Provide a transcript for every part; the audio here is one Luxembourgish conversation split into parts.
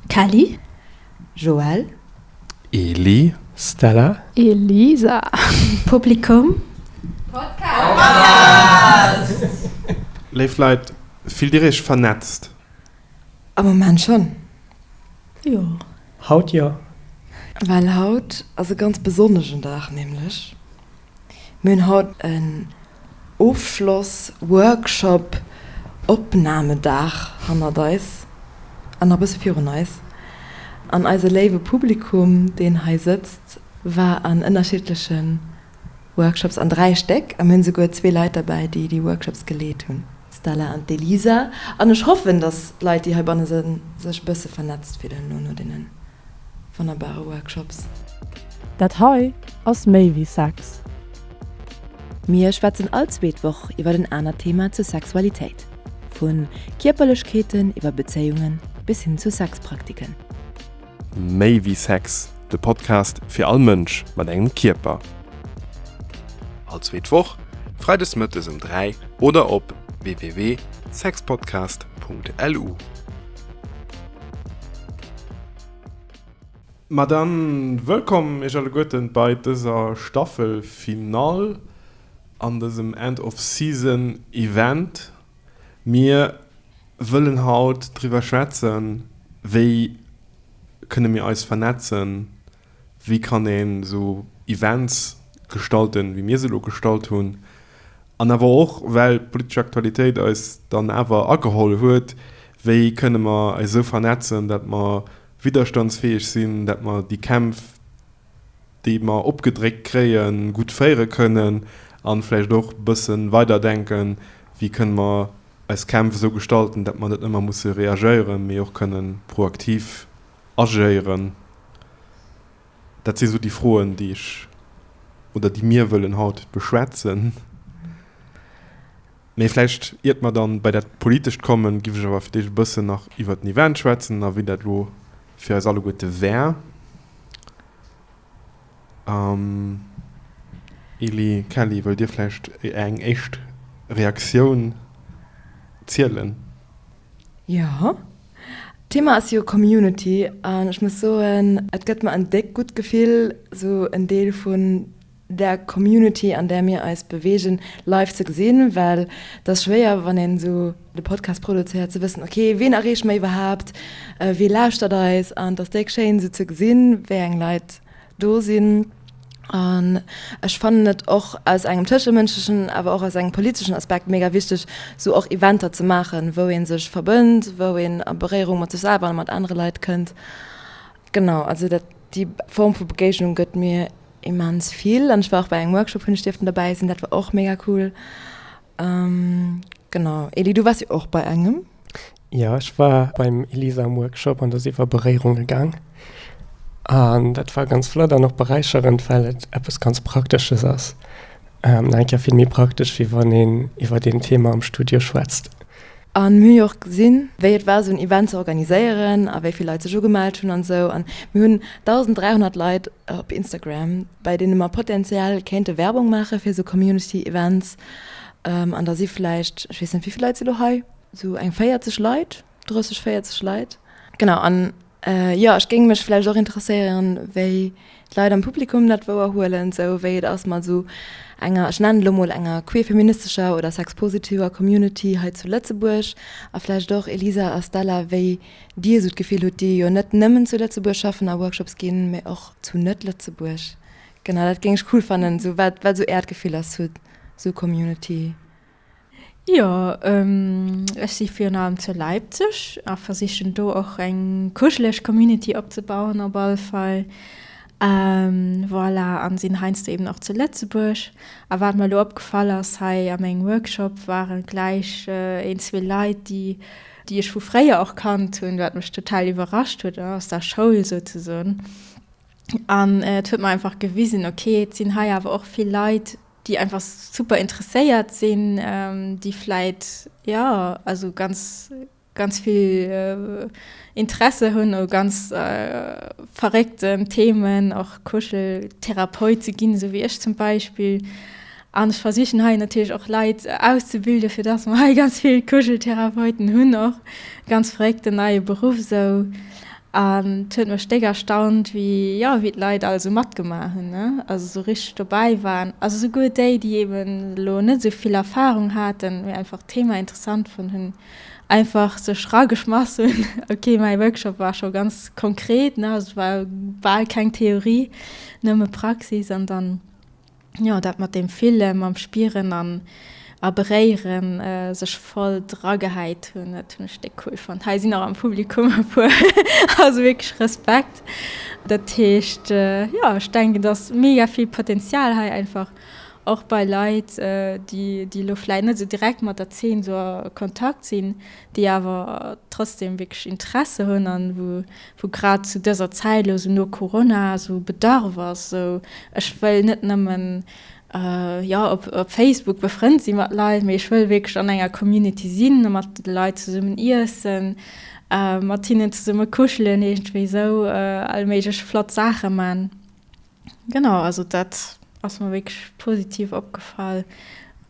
Kelly, Joël. Eli, Stella. Elisa, Publikum, Podcast. Léif Leit, fillt dir iech vernetzt? Am Moment schonn. Jo. Haut jo. Well haut ass e ganz besonneschen Dag, nämlech. Mir hunn haut en Ofschloss-Workshop, Opnamedag hannert eis an nach e bësse virun eis. An eise léiwe Publikum, deen hei sëtzt, war an ënnerschiddleche Workshops, an dräi Stéck, a mir hunn souguer zwee Leit derbäi, déi déi Workshops geleet hunn, d'Stella an d'Elisa, an ech hoffen, datt d'Leit, déi heibanne sinn, sech e bësse vernetzt fillen elo no deenen. wonnerbare Workshops. Dat hei ass méi wéi Sex. Mir schwätzen all zweet Woch iwwert en anert Thema zur Sexualitéit, vu Kierperlechkeeten iwwer Bezéiungen bis hin zu Sexpraktiken. Méi wéi Sex, de Podcast fir all Mënsch mat engem Kierper. All zweet Woch, Freides mëttes um 3 oder op www.sexpodcast.lu. Ma dann wëllkomm iech alleguerten bei dëser Staffel Finale an dësem End of Season Event. Mir wëllen haut driwwer schwätzen, wéi kënne mir eis vernetzen? wéi kann een esou Events gestalten, wéi mir se elo gestalt hunn, an awer och, well d'politesch Aktualitéit eis dann awer ageholl huet, wéi kënne mer eis esou vernetzen, datt mer widderstandsfäeg sinn, datt mer déi Kämpf, déi mer opgedréckt kréien, gutt féiere kënnen a vläicht och e bësse weider denken, wéi kënne mer eis Kämpf esou gestalten, datt mer net ëmmer musse reagéieren, mee och kënnen proaktiv. agéieren? Dat si sou déi Froen, déi ech oder déi mir wëllen haut beschwätzen. Mee vläicht, iert mer dann bei dat Politescht kommen, giff ech awer fir d'éischt e bëssen nach iwwert den Event schwätzen a wéi dat elo fir eis alleguerte wär. An Eli Kelly, wëllt Dir vläicht eng éischt Reaktioun zielen? Jo, d'Thema ass jo Community an ech muss soen, et gëtt mer en déckt gutt Gefill, esou en Deel vun der Community, an där mir eis beweegen, live ze gesinn, well et ass schwéier, wann een esou. de Podcast produzéiert, ze wëssen, ok, ween erreeche mer iwwerhaapt, wee lauschtert eis? An et ass déck schéin esou ze gesinn, wéi eng Leit do sinn. An ech fannen et och aus engem tëschemënschlechen, awer och aus engem politeschen Aspekt mega wichteg, esou och Eventer ze maachen, wou ee sech verbënnt, wou een a Beréierung mat sech selwer a mat anere Leit kënnt. Genau, also dat, déi Form vu Begéignung gëtt mir immens vill. An ech war och bei engem Workshop, hunn ech dierften dobäi sinn, dat war och mega cool. Genau. Eli, du waars jo och bei engem. Jo, ech war beim Elisa um Workshop an do si mer Beréierunge gaang. An dat war ganz flott an och beräicherend, well et eppes ganz Praktesches ass. Nach eng Kéier vill méi praktesch, wéi wann een iwwer een Theema am Studio schwätzt. an mir hu jo och gesinn, wéi et war esou en Event ze organiséieren a wéi vill Leit sech ugemellt hunn an esou an mir hunn 1.300 Leit op Instagram, bei deene mer potenziell kéinte Werbung maache fir esou Community Events an da si vläicht, ech weess net wéi vill Leit si elo hei, esou eng 40 Leit, 30, 40 Leit, genau an. Jo, ech géing mech vläicht och interesséieren, wéi d'Leit am Publikum dat wouerhuelen, sou wéi et ass mat esou enger, ech nennen elo mol, enger queer-feministescher oder sexpositiver Community hei zu Lëtzebuerg. A vläicht och Elisa a Stella, wéi Dir esou d'Gefill hutt, déi jo net nëmmen zu Lëtzebuerg schaffen a Workshops ginn, mee och zu Net-Lëtzebuerg. Genau, dat géing ech cool fannen, sou wat esou Äert Gefill ass zu esou Community. Jo, ech si virun allem zu Leipzig a versichen do och eng kuscheleg Community opzebauen op alle Fall. Voilà, an sinn heiansdo eben och zu Lëtzebuerg. A wat mer elo opgefall ass, hei a mengem Workshop ware gläich een, zwee Leit, déi, déi ech vu fréier och kannt hunn, wat mech total iwwerrascht huet, aus der Schoul souzesoen. An et huet mer einfach gewisen, ok, et sinn hei awer och vill Leit, déi einfach super interesséiert sinn, déi vläit, jo, also ganz, ganz vill Interesse hunn u ganz verréckten Themen, och Kuscheltherapeut ze ginn, esou wéi ech zum Beispill. An ech versichen hei natierlech och Leit auszebilden, fir dass mer hei ganz vill Kuscheltherapeuten hunn och. Ganz verréckten neie Beruff esou. An et huet mech déck erstaunt, wéi, jo, wéi d'Leit all esou matgemaach hunn, ne, also esou richteg dobäi waren. Also souguer déi, déi eben elo net esou vill Erfarung haten, mee einfach d'Thema interessant fonnt hunn, einfach sech rageschmass hunn. Ok, mäi Workshop war scho ganz konkret, ne, also et war bal keng Theorie, nëmme Praxis. An dann. Jo dat mat deem Fillen, mam Spieren an a Beréieren, sech voll dra gehäit hunn, dat hunn ech déck cool fonnt. Hei sinn och am Publikum e puer, also wierklech Respekt. Dat heescht jo ech denken dass mega vill Potenzial hei einfach och bei Leit déi déi elo vläit net esou direkt mat der Zeen esou a Kontakt sinn, déi awer trotzdem wierklech Interesse hunn an wou wou grad zu dëser Zäit elo esou no Corona esou Bedarf ass, esou ech wëll net nëmmen jo op Facebook befrënnt si mat Leit, mee ech wëll wierklech an enger Community sinn a mat de Leit zesummen iessen, mat hinnen zesumme kuschelen, iergendwéi esou allméiglech flott Saache man. Genau, also dat ass mer wierklech positiv opgefall.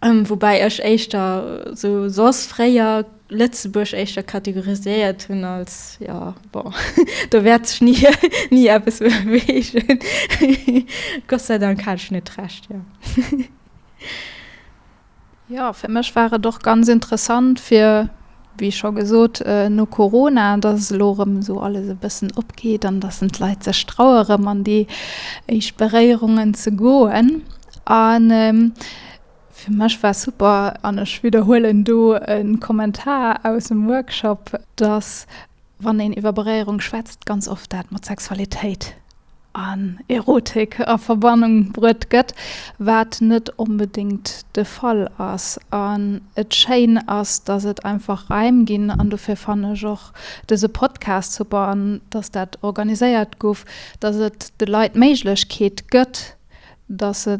Woubäi ech éischter sou soss fréier Lëtzebuerg éischter kategoriséiert hunn als, jo bon, do wäert sech ni ni eppes beweegen. Gott sei Dank hat ech net Recht, jo. Jo, fir mech war et och ganz interessant, fir, wéi scho gesot, no Corona, dass et elo erëm esou alles e bëssen opgeet an dass en d'Leit sech traue erëm an déi éischt Beréierungen ze goen. An fir mech war super, an ech widderhuelen do e Kommentar aus dem Workshop, dass wann een iwwer Beréierung schwätzt, ganz oft dat mat Sexualitéit an Erotik a Verbannung bruet gëtt, wat net onbedéngt de Fall ass an et schéin ass, dass et einfach Raim ginn an dofir fannen ech och dëse Podcast super an dass dat organiséiert guff, dass et de Leit d'Méiglechkeet gëtt, dass se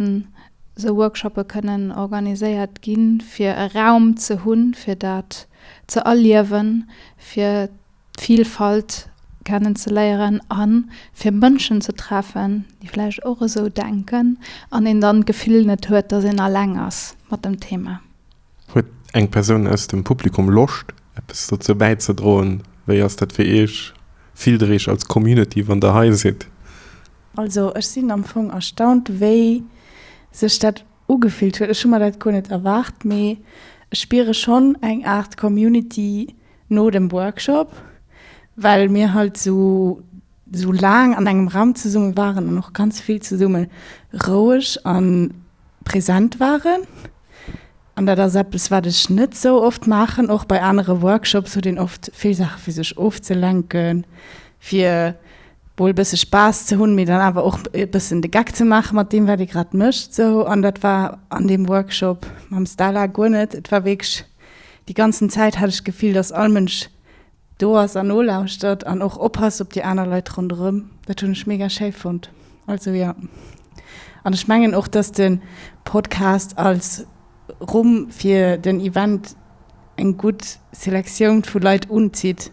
sou Workshoppe kënnen organiséiert ginn, fir e Raum ze hunn, fir dat ze erliewen, fir. d'Vielfalt kennen ze léieren a fir Mënschen ze treffen, déi vläicht och esou denken an een dann d'Gefill net huet, dass een alleng ass mat dem Thema. Huet eng Persoun aus dem Publikum Loscht, eppes dozou bäizedroen? Wéi ass dat fir Iech? Fillt Der Iech als Community, wann Der hei sidd? Also ech sinn am Fong erstaunt, wéi sech dat Ugefillt huet. Ech hu mer dat guer net erwaart, mee ech spiere schonn eng Aart Community no dem Workshop, well mir halt esou esou laang an engem Raum zesumme waren an och ganz vill zesumme roueg a present waren. An dat ass eppes, wat ech net esou oft maachen. Och bei anere Workshops huet een oft vill Saache fir sech ofzelenken, fir wuel e bësse Spaass ze hunn, mee dann awer och e bëssen de Geck ze maache mat deem, wat ee grad mécht esou. An dat war an deem Workshop mam Stala guer net. Et war wierklech, déi ganzen Zäit hat ech d'Gefill, datt all Mënsch do ass an nolauschtert an och oppasst op déi aner Leit ronderëm. Dat hunn ech mega schéi fonnt. Also jo. An ech mengen och, datt de Podcast als Rumm fir den Event eng gutt Selektioun vu Leit unzitt,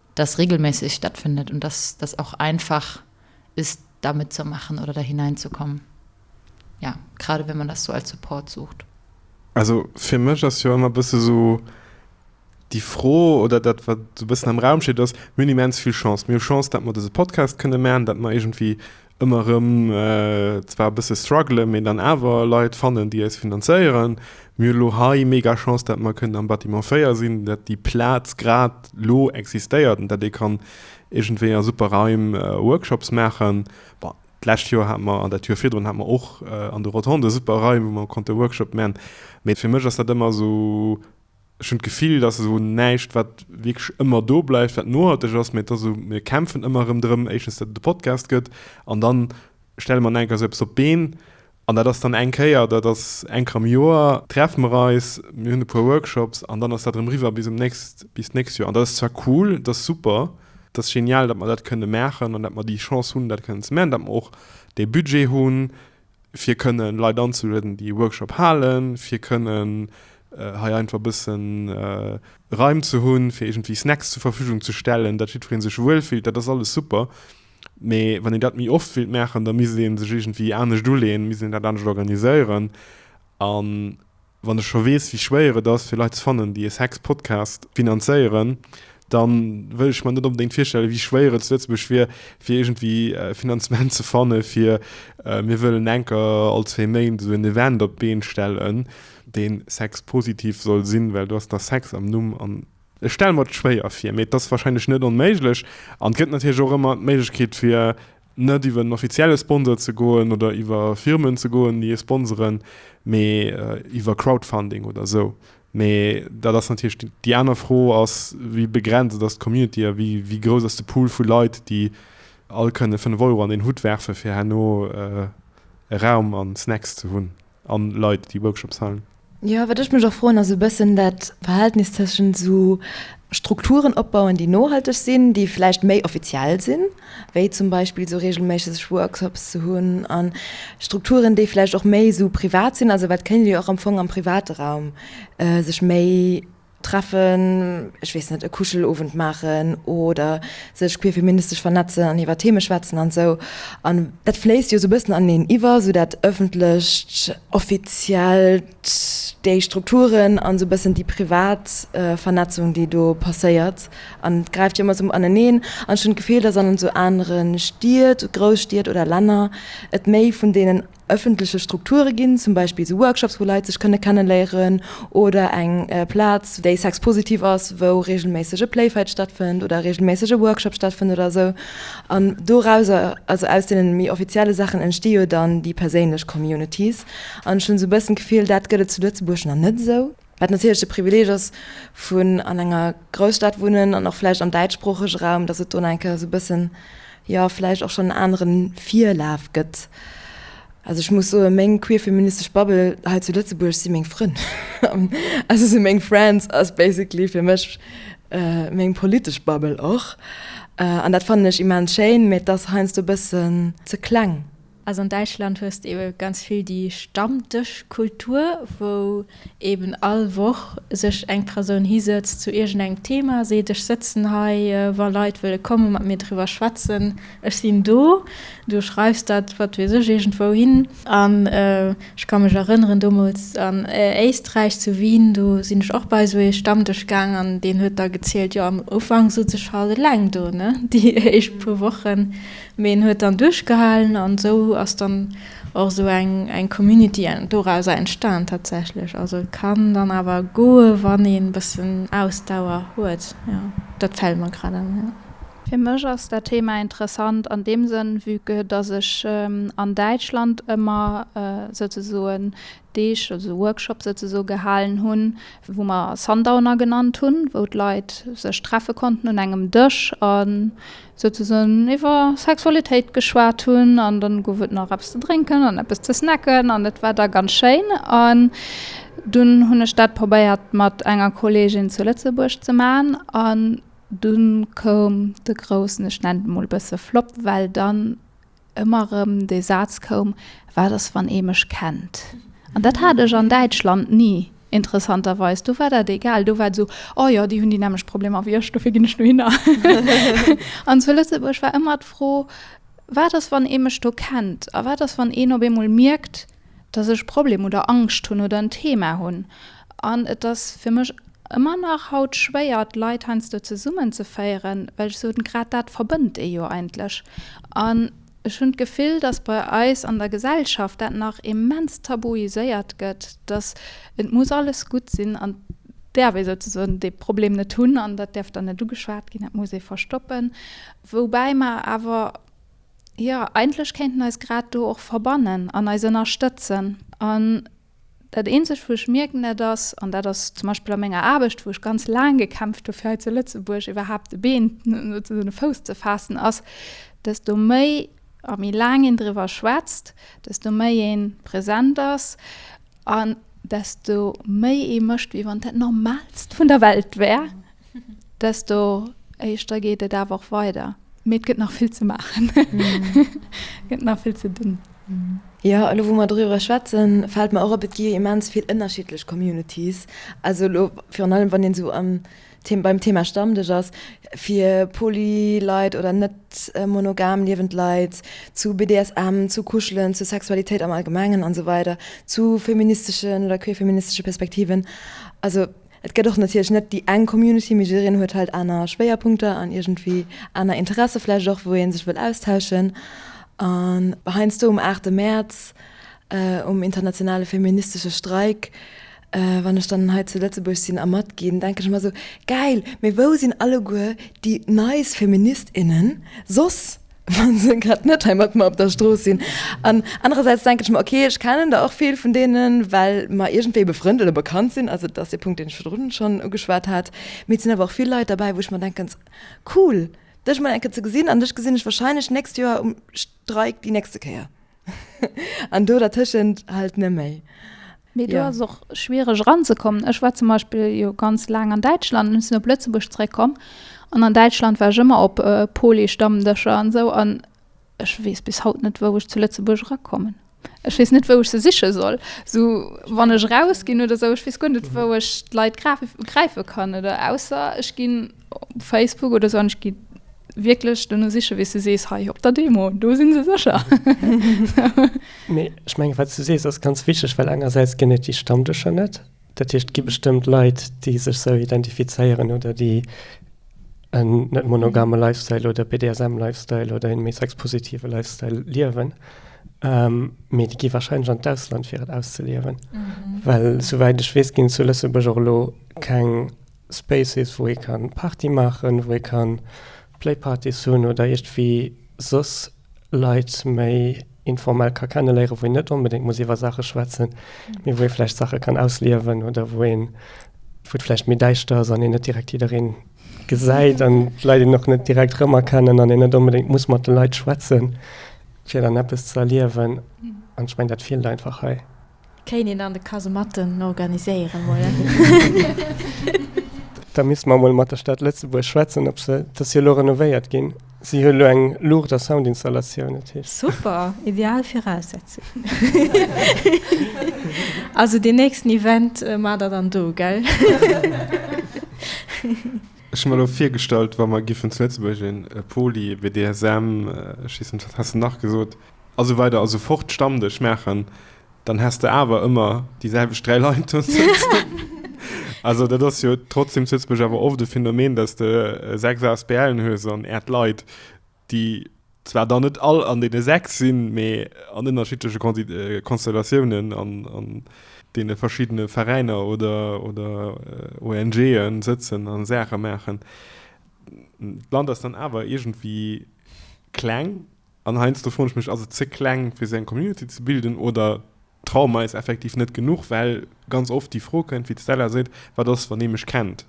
dass regelmässig stattfindet und dass das auch einfach ist, da mitzumachen oder da hineinzukommen. Ja, gerade wenn man das so als Support sucht. Also fir mech ass jo ëmmer bësse sou déi Fro oder dat, wat sou bëssen am Raum steet, ass, Mir hunn immens vill Chance. Mir hu Chance, datt mer dëse Podcast kënne maachen, datt mer iergendwéi ëmmer rëm zwar e bësse struggelen, mee dann awer Leit fannen, déi eis finanzéieren. Mir hunn elo hei mega Chance, datt mer kënnen am Bâtiment 4 sinn, datt déi Plaz grad elo existéiert an datt ee kann iergendwéi a super Raim Workshops maachen. Bon, d'lescht Joer hat mer, an dat Joer virdrun hat mer och an de Rotonden super Raim, wou mer konnte Workshop man. Mee fir mech ass dat ëmmer esou. Ech hunn d'Gefill, et ass esou näischt, wat wierklech ëmmer do bleift, wat nohalteg ass, mä et ass esou, mir kämpfen ëmmer erëm drëm, éischtens, datt et e Podcast gëtt an dann stelle mer nach eng Kéier esou eppes op d'Been an dat ass dann eng Kéier, dat ass eng Kéier am Joer, treffe mer eis, mir hunn e puer Workshops an dann ass dat erëm riwwer bis um nächst, bis d'nächst Joer. An dat ass zwar cool, dat ass super, dat ass genial, datt mer dat kënne maachen an datt mer déi Chance hunn, dat kënnen ze maachen, datt mer och dee Budget hunn, fir kënnen Leit anzelueden, déi e Workshop halen, fir kënnen hei einfach e bëssen Raim ze hunn, fir iergendwéi Snacks zur Verfügung ze stellen, datt jiddweree sech wuel fillt, dat ass alles super. Mee wann een dat méi oft wéilt maachen, da misst ee sech iergendwéi anescht uleeën, misst een dat anescht organiséieren an, Wann ech scho weess, wéi schwéier et ass, fir Leit ze fannen, déi ee Sex-Podcast finanzéieren, da wëll ech mer net onbedéngt virstellen, wéi schwéier et zu Lëtzebuerg wier, fir iergendwéi e Finanzement ze fannen, fir Mir wëllen enker all zwee Méint esou en Event op d'Been stellen, dee sexpositiv soll sinn, well do ass da Sex am Numm. An ech stelle mer et schwéier vir, mee et ass warscheinlech net onméiglech. An et gëtt natierlech och ëmmer d'Méiglechkeet, fir Net iwwer en offizielle Sponsor ze goen oder iwwer Firmen ze goen, déi ee sponsoren, mee iwwer Crowdfunding oder esou. Mee dat ass natierlech déi aner Fro ass, wéi begrenzt ass d'Community a wéi grouss ass de Pool vu Leit, déi all kënne fënnef Euro an deen Hutt werfen, fir herno e Raum an Snacks ze hunn. An Leit déi Workshops halen. Jo, wat ech mech och froen ass e bëssen dat Verhältnis tëschent esou Strukturen opbauen, déi nohalteg sinn, déi vläicht méi offiziell sinn, wéi zum Beispill esou reegelméisseg Workshops ze hunn, a Strukturen, déi vläicht och méi esou privat sinn. Also wat kënnt Dir och am Fong am private Raum sech méi. treffen, ech weess net, e Kuschelowend maachen oder sech queerfeministesch vernetzen an iwwer Theme schwätzen an esou. An dat fléisst jo esou e bëssen aneneen iwwer, esou dat Ëffentlecht, Offiziellt, déi Strukturen an esou e bëssen déi privat Vernetzung, déi do passéiert. An et gräift jo ëmmer esou aneneen. An ech hunn d'Gefill, datt an esou anere Stied, Grousstied oder Länner et méi vun deenen ëffentleche Strukture ginn, zum Beispill esou Workshops, wou Leit sech kënne kenneléieren, oder eng Plaz, déi sexpositiv ass, wou reegelméisseg e Playfight stattfënnt oder reegelméisseg e Workshop stattfënnt oder esou. An dorauser, also aus deene méi offizielle Saachen, entsti jo dann déi perséinlech Communities. An ech hunn esou e bëssen d'Gefill, dat gëtt et zu Lëtzebuerg nach net esou. Wat natierlech de Privileeg ass vun an enger Grousstad wunnen an och vläicht am däitschsproochege Raum, datt et do nach eng Kéier esou e bëssen, jo vläicht och schonn en anere Virlaf gëtt. Also ech muss soen, meng queerfeministesch Bubble hei zu Lëtzebuerg si meng Frënn. Also sou meng Friends ass basically fir mech meng politesch Bubble och. An dat fannen ech immens schéin, mä et ass heiansdo e bëssen ze kleng. Also an Däitschland hues de eben ganz vill déi Stammdëschkultur, wou eben all Woch sech eng Persoun hisëtzt zu iergendengem Thema, seet, ech sëtzen hei, wa Leit wëlle komme mat mir driwwer schwätzen, ech sinn do. Du schreifs dat, wat weess ech, iergendwou hin. An ech ka mech erënneren, domols an Éisträich, zu Wien, do sinn ech och bei esou ee Stammdësch gaang an deen huet da gezielt, jo am Ufank sot se schalt eleng do, ne, déi éischt puer Wochen, Mee en huet dann duerchgehalen an esou ass dann och esou eng Community dorauser entstan tatsächlech. Also et kann dann awer goe wann een bëssen Ausdauer huet. Jo dat fält mer grad an, jo. Fir mech ass dat Thema interessant an deem Sënn, vue que dass ech an Däitschland ëmmer souzesoen Deeg, also Workshop souzesoen, gehalen hunn, wou mer Sundowner genannt hunn, wou d'Leit sech treffe konnten un engem Dësch a souzesoen iwwer Sexualitéit geschwat hunn. An dann gouf et nach eppes ze drénken an eppes ze snacken an et war da ganz schéin. An dunn hunn ech dat probéiert mat enger Kolleegin zu Lëtzebuerg ze maachen an dunn koum de groussen, ech nennen et emol e bësse Flop, well dann ëmmer erëm de Saz koum, Wat ass, wann ee mech kennt? An dat hat ech an Däitschland ni, interessanterweis. Do war dat egal, do war et esou, Oh jo, déi hunn déi nämmlecht Problemer wéi ech, dofir ginn ech dohinner. An zu Lëtzebuerg war ëmmer d'Fro, Wat ass, wann ee mech do kennt? A wat ass, wann een op eemol mierkt, dass ech Problem oder Angscht hunn oder en Thema hunn. An et ass fir mech ëmmer nach haut schwéier, d'Leit heiansdo zesummenzeféieren, well ech soen, grad dat verbënnt ee jo eigentlech. An ech hunn d'Gefill, dass bei eis an der Gesellschaft dat nach immens tabuiséiert gëtt, dass et muss alles gutt sinn an d'äerf ee souzesoen dee Problem net hunn an dat däerf dann net ugeschwat ginn, dat muss ee verstoppen. Woubäi mer awer. jo, eigentlech kéinten eis grad do och verbannen an eis ënnerstëtzen. An dat Eenzegt, wou ech mierken, dat ass, an dat ass zum Beispill a menger Aarbecht, wou ech ganz laang gekämpft hu fir hei zu Lëtzebuerg iwwerhaapt e Been, souzesaagen e Fouss ze faassen, ass, desto méi a méi laang een driwwer schwätzt, desto méi ee present ass, An desto méi ee mécht, wéi wann et dat Normalst vun der Welt wär, desto éischter geet et awer och weider. Mee et gëtt nach vill ze maachen. Et gëtt nach vill ze dinn. Jo, elo wou mer doriwwer schwätzen, fält mer och op, et gi jo immens vill ënnerschiddlech Communities. Also elo virun allem, wann een esou an. Beim Thema Stammdësch ass fir poly Leit oder net monogam liewend Leit zu BDSM, zu Kuschelen, zur Sexualitéit am Allgemengen an sou weider, zu feministeschen oder queerfeministesche Perspektiven. Also et gëtt och natierlech net déi eng Community, mee jiddereen huet halt aner Schwéierpunkter an iergendwéi aner Interesse vläicht och, wou ee sech wëll austauschen. An heiansdo um aachte Mäerz um internationale feministesche Streik Wann ech dann hei zu Lëtzebuerg sinn a matginn, denken ech ëmmer esou, Gäil, mee wou sinn alleguer déi nice Feminist, innen soss, wa se grad net hei mat mer op der Strooss sinn? An anerersäits denken ech mer, Ok, ech kennen der och vill vun deenen, well mer iergendwéi befrënnt oder bekannt sinn, also et ass dee Punkt, deen ech virdrun schonn ugeschwat hat, mee et sinn awer och vill Leit derbäi, wou ech mer denken, S, Cool, dech emol eng Kéier ze gesinn an dech gesinn ech wahrscheinlech d'nächst Joer um Streik déi nächste Kéier. an do dertëschent halt net méi. Mee do ass och schwiereg eranzekommen. Ech war zum Beispill jo ganz laang an Däitschland, elo sinn ech op Lëtzebuerg zeréckkomm an an Däitschland war ech ëmmer op Polystammdëscher an esou an ech weess bis haut net, wou ech zu Lëtzebuerg erakommen. Ech weess net, wou ech se siche soll, esou wann ech rausginn oder esou. Ech weess guer net, wou ech d'Leit gräife kann oder ausser ech ginn. Op Facebook oder esou, ech gi wierklech duerno sichen, wéi s du sees, hei op der Demo, do si se sécher. Mee ech menge wat s du sees, ass ganz wichteg, well engersäits ginn et déi Stammdëscher net. Dat heescht, et gi bestëmmt Leit, déi sech esou identifizéieren oder déi en net monogame Lifestyle oder BDSM-Lifestyle oder en méi sexpositive Lifestyle liewen. Mee déi gi warscheinlech an d'Ausland, fir et auszeliewen. Well souwäit ech weess, ginn et zu Lëtzebuerg och elo keng Spaces, wou ee kann Party maachen, wou ee kann Playpartys hunn oder iergdwéi soss Leit méi informell ka kenneléieren, wou een net onbedéngt muss iwwer Saache schwätzen, mee wou ee vläicht Saache kann ausliewen oder wou een, wou et vläicht méi däischter ass an een net direkt jiddereen gesäit an d'Leit een och net direkt rëmerkennen an een net onbedéngt muss mat de Leit schwätzen, fir dann eppes ze erliewen. An ech mengen, dat feelt einfach hei. Kéint een dann de Kasematten organiséieren mol? Da misste mer emol mat der Stad Lëtzebuerg schwätzen, ob se, et ass jo elo renovéiert ginn, si huet elo eng Luucht a Soundinstallatioun, dat heescht. Super, ideal Viraussetzungen. Also deen nächsten Event maacht der dann do, gell? Ech hu mer elo virgestallt, wa mer giffen zu Lëtzebuerg e Poli, e BDSM, ech weess net, wat has de nach gesot? A sou weider a sou fort Stammdësch maachen, dann häss de awer ëmmer déi selwecht dräi Leit do sëtzen. Also dat ass jo trotzdeem zu Lëtzebuerg awer oft e Phänomen, dass de sechs ASBLen hues an Äert d'Leit, déi zwar dann net all an deene sechs sinn, mee an ënnerschiddleche Konstellatiounen an deene verschiddene Veräiner oder ONGen sëtzen a Saache maachen. D'Land ass dann awer iergendwéi kleng. An heiansdo froen ech mech, ass et ze kleng fir sou eng Community ze bilden oder traue mer eis effektiv net genuch, well ganz oft déi Fro kënnt, wéi d'Stella seet, wat ass wann ee mech kennt?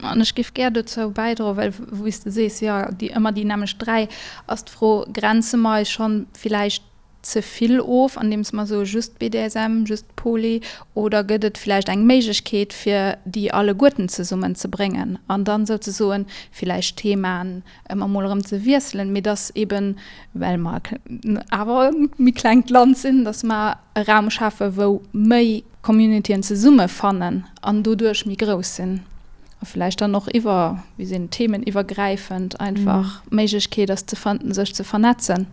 An ech géif gär dozou bäidroen, well wéi s de sees, jo, déi ëmmer déi nämmlecht dräi, ass d'Fro, grenze mer eis schonn villäicht ze vill of, andeems mer soe just BDSM, just Poly, oder gëtt et villäicht eng Méiglechkeet fir déi alleguerten zesummen ze bréngen an dann souzesoen villäicht Themaen ëmmer mol erëm ze wiesselen, mee dass eben, well mer awer e méi klengt Land sinn, dass mer e Raum schafen, wou méi Communityen zesummefannen an doduerch méi grouss sinn a vläicht dann och iwwer, wéi seet een, theemeniwwergräifend einfach d'Méiglechkeet ass ze fannen, sech ze vernetzen.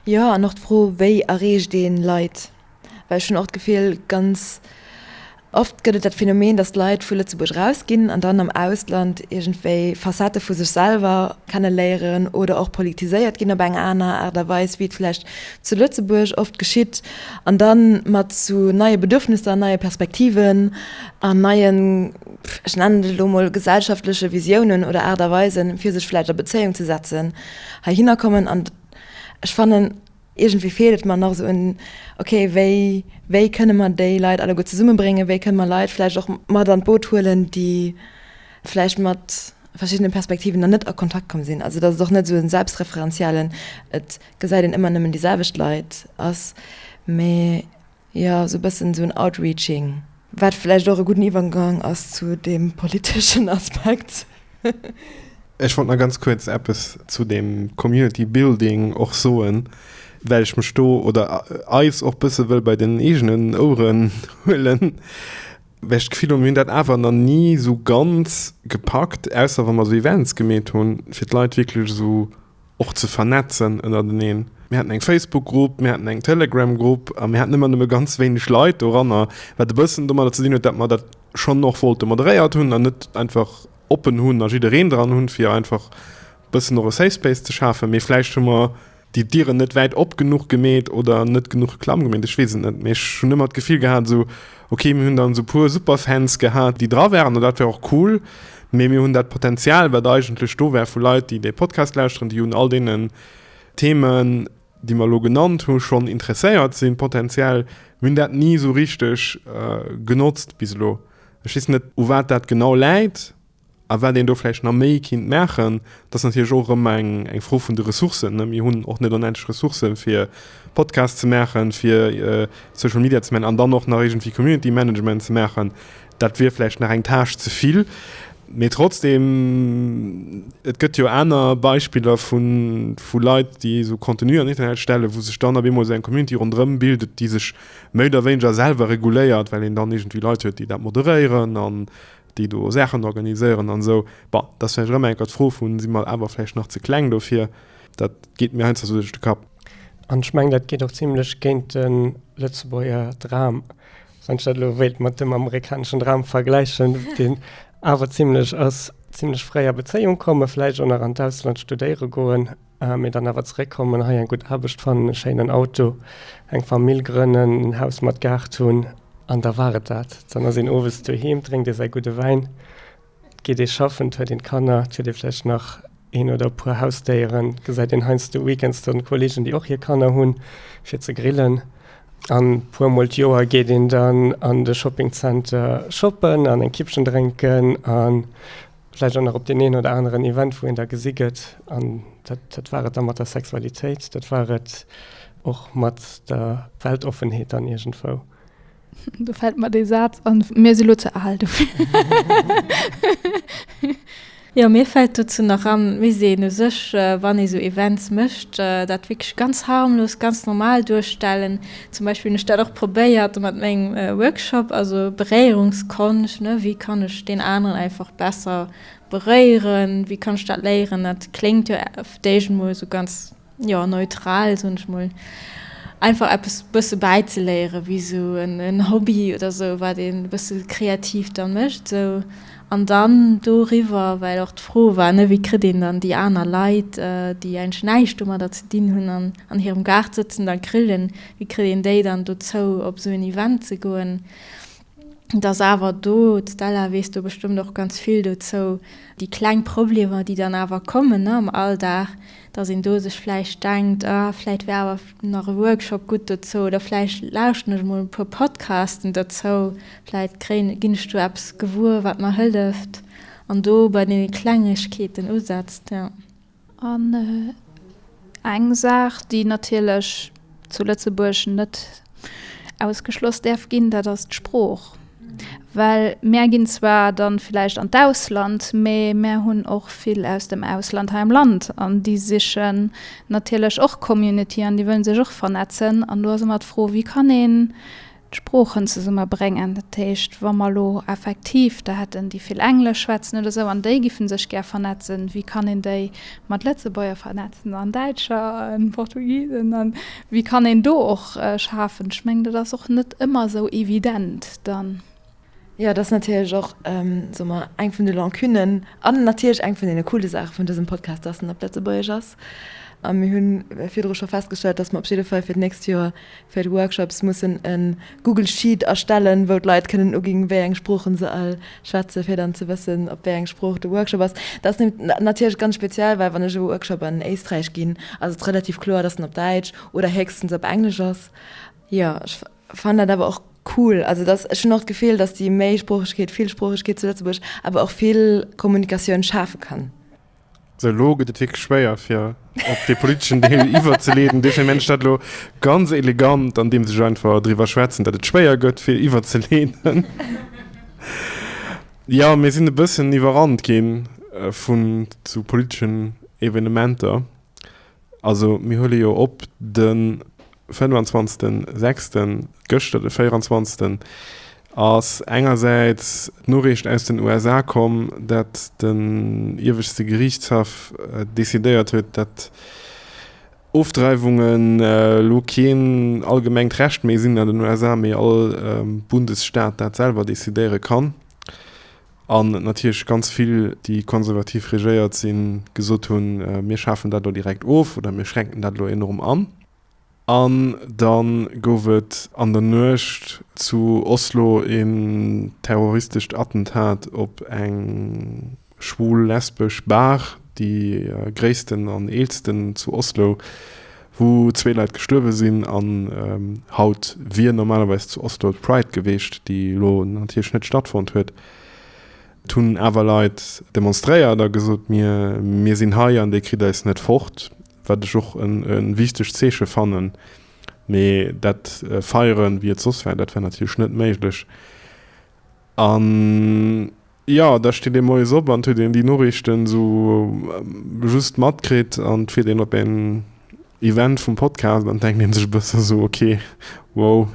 Jo, an och d'Fro, wéi erreecht ee Leit? Well ech hunn och d'Gefill, ganz oft gëtt et dat Phänomen, datt Leit vu Lëtzebuerg erausginn an dann am Ausland iergendwéi Facettë vu sech selwer kenneléieren oder och politiséiert ginn op eng aner Aart a Weis, wéi et vläicht zu Lëtzebuerg oft geschitt, an da mat zu neie Bedürfnisser, neie Perspektiven an neien, ech nennen et elo mol, gesellschaftleche Visiounen oder Aart a Weisen, fir sech vläicht a Bezéiung ze setzen, heihinner kommen. An ech fannen. Iergendwéi feelt et mer nach esou un, ok, wéi, wéi kënne mer déi Leit alleguer zesummebréngen, wéi kënne mer Leit vläicht och mat an d'Boot huelen, déi vläicht mat verschiddene Perspektiven nach net a Kontakt komm sinn. Also datt et och net esou e selbstreferenziellen, et gesäit een ëmmer nëmmen déi selwecht Leit ass, mee. Jo, esou e bëssen esou en Outreaching. Wat vläicht och e gudden Iwwergang ass zu deem politeschen Aspekt. Ech wollt nach ganz kuerz eppes zu deem Community Building och soen, well ech mech do, oder eis, och e bësse wëll bei den eegenen Oueren huelen, well ech d'Gefill hunn, mir hunn dat awer nach ni esou ganz gepackt, ausser wa mer esou Events gemeet hunn, fir d'Leit wierklech esou och ze vernetzen ënnerteneen. Mir haten eng Facebook-Grupp, mir haten eng Telegram-Grupp a mir haten ëmmer nëmme ganz wéineg Leit doranner, wat e bëssen domadder ze dinn huet, datt mer dat schonn och wollte moderéiert hunn an net einfach oppen hunn a jiddereen dran hunn, fir einfach e bëssen och e Safe Space ze schafen. Mee vläicht hu mer déi Dieren net wäit op genuch gemeet oder net genuch klamm gemeet, ech weess et net. Mee ech hunn ëmmer d'Gefill gehat, esou Ok, mir hunn dann esou puer Superfans gehat, déi dra waren, an dat war och cool. Mee mir hunn dat Potenzial, wat eigentlech do war, vu Leit, déi dee Podcast lauschteren, déi un all deenen Themen, déi mer elo genannt hu schonn interesséiert sinn, potenziell. Mir hunn dat ni esou richteg genotzt bis elo. Ech weess net, u wat dat genau läit. A wat een do vläicht nach méi kinnt maachen, dat ass natierlech och erëm eng Fro vun de Ressourcen. Mir hunn och net onendlech Ressourcen, fir Podcasts ze maachen, fir Social Media ze maachen an dann och nach iergendwéi Community Management ze maachen. Dat wier vläicht nach eng Tâche ze vill. Mee trotzdeem, et gëtt jo aner Beispiller vu Leit, déi esou Contenue an Internet stellen, wou sech dann op eemol esou eng Community ronderëm bildet, déi sech méi oder wéineger selwer reguléiert, well een dann iergendwéi Leit huet, déi dat moderéieren an déi do Saachen organiséieren an esou, bon, dat ass vläicht och ëmmer enker d'Fro vu si mer awer vläicht nach ze kleng dofir, dat geet mir heiansdo esou duerch de Kapp. An ech mengen, dat geet och zimlech géint de lëtzebuerger Dram, wann ech dat elo wéilt mat dem amerikaneschen Dram vergläichen, deen awer zimlech ass, zimlech fréi a Bezéiung kommen, vläicht och nach an d'Ausland studéiere goen, Mee dann awer zeréck kommen, hei eng gutt Aarbecht fannen, e schéinen Auto, eng Famill grënnen, en Haus mat Gaart hunn, an da war et dat. Dann ass een owes doheem, drénkt ee säi gudde Wäin, geet ee schaffen, et huet een d'Kanner, et huet ee vläicht nach een oder e puer Hausdéieren, gesäit een heiansdo weekends dann d'Kollegen, déi och hir Kanner hunn, fir ze grillen. An e puer mol d'Joer geet een dann an de Shoppingzenter shoppen an eng Kippchen drénken an Vläicht och nach op deen een oder aneren Event, wou een da gesi gëtt. An dat, dat war et da mat der Sexualitéit, dat war et och mat der Weltoffenheet dann iergendwou. Do fält mer dee Saz an, Mir si lo ze al dofir. Jo, mir fält dozou nach an, Mir sinn u sech, wann ee sou Events mécht, dat wierklech ganz harmlos, ganz normal duerstellen. Zum Beispill hunn ech dat och probéiert mat mengem Workshop, also Beréierungskonscht, ne, wéi kann ech deen aneren einfach besser beréieren, wéi kann ech dat léieren? Dat kléngt jo op d'éischt emol esou ganz, jo, neutral, soen ech mol, einfach eppes e bësse bäizeléieren, wéi esou en Hobby oder esou, wat een e bësse kreativ da mécht esou. An dann doriwwer, well och d'Fro war, ne, wéi kritt een dann déi aner Leit, déi eigentlech näischt domadder ze dinn hunn an an hirem Gaart sëtzen dann grillen, wéi kritt een déi dann dozou op esou en Event ze goen? Et ass awer do, d'Stella weess do bestëmmt och ganz vill dozou, déi kleng Problemer, déi dann awer kommen, ne, am Alldag, datt een do sech vläicht denkt, ah, vläicht wär awer nach e Workshop gutt dozou oder vläicht lauschten ech emol e puer Podcasten dozou, Vläit kréien, ginn ech do eppes gewuer, wat mer hëlleft an do bei deene Klengegkeeten usetzt, jo. An eng Saach, déi natierlech zu Lëtzebuerg net ausgeschloss däerf ginn, dat ass d'Sprooch. Well mär ginn zwar dann vläicht an d'Ausland, mee mär hunn och vill aus dem Ausland hei am Land an déi sichen natierlech och Community an déi wëllen sech och vernetzen. An do ass ëmmer d'Fro, wéi kann een d'Sproochen zesummebréngen, dat heescht wa mer elo effektiv der hätten déi vill Englesch schwätzen oder esou an déi giffen sech gär vernetzen, wéi kann een déi mat Lëtzebuerger vernetzen an Däitscher an Portugisen an wéi kann een do och schafen? Ech mengen dat ass och net ëmmer esou evident dann. Jo, et ass natierlech och, soe mer, eng vun de Lancunen an natierlech eng vun deene coole Saache vun dësem Podcast, dass en op Lëtzebuergesch ass. A mir hu virdru scho festgestallt, dass mer op jidde Fall fir d'nächst Joer fir d'Workshops mussen e Google Sheet erstellen, wou d'Leit kënnen uginn, wéi eng Sproochen se all schwätzen, fir dann ze wëssen, op wéi eng Sprooch de Workshop ass. Dat ass nämlech natierlech ganz speziell, well wann ech e Workshop an Éisträich ginn, ass et relativ kloer, dass en op Däitsch oder héchstens op Englesch ass. Jo. Fannen dat awer och cool. Also dass ech hunn och d'Gefill, dass déi Méisproochegkeet, Villsproochegkeet zu Lëtzebuerg awer och vill Kommunikatioun schafe kann. Sou, elo gëtt et wierklech schwéier fir op dee politeschen Deel iwwerzeleeden. Dofir mengen ech dat elo ganz elegant, andeems ech einfach driwwer schwätzen, datt et schwéier gëtt fir iwwerzeleeden. Jo, mir sinn e bëssen iwwerrannt gi vu sou politeschen Evenementer. Also mir huele jo op de 25.06., gëschter de 24. ass engersäits d'Noriicht aus den USA komm, datt den ieweschte Geriichtshaff decidéiert huet, datt Ofdreiwungen elo keen allgemengt Recht méi sinn an den USA, mee all Bundesstaat dat selwer decidéiere kann. An natierlech ganz vill, déi konservativ regéiert sinn, gesot hunn, mir schafen dat elo direkt of oder mir schränken dat elo enorm an. An da gouf et an der Nuecht zu Oslo een terroristescht Attentat op eng schwul-lesbesch Bar, déi gréissten an eelsten zu Oslo. wou zwee Leit gestuerwe sinn an haut wier normalerweis zu Oslo d'Pride gewiescht, déi elo natierlech net stattfonnt huet. Et hunn awer Leit demonstréiert a gesot, mir mir sinn hei an dir kritt eis net fort, wat ech och e wichtegt Zeeche fannen. Mee dat feieren, wéi et soss war, dat war natierlech net méiglech. An Jo, da steet ee moies op an et huet een déi Noriichten esou just matkritt an et fiert een op een Event vum Podcast an et denkt ee sech e bëssen esou, ok, wow,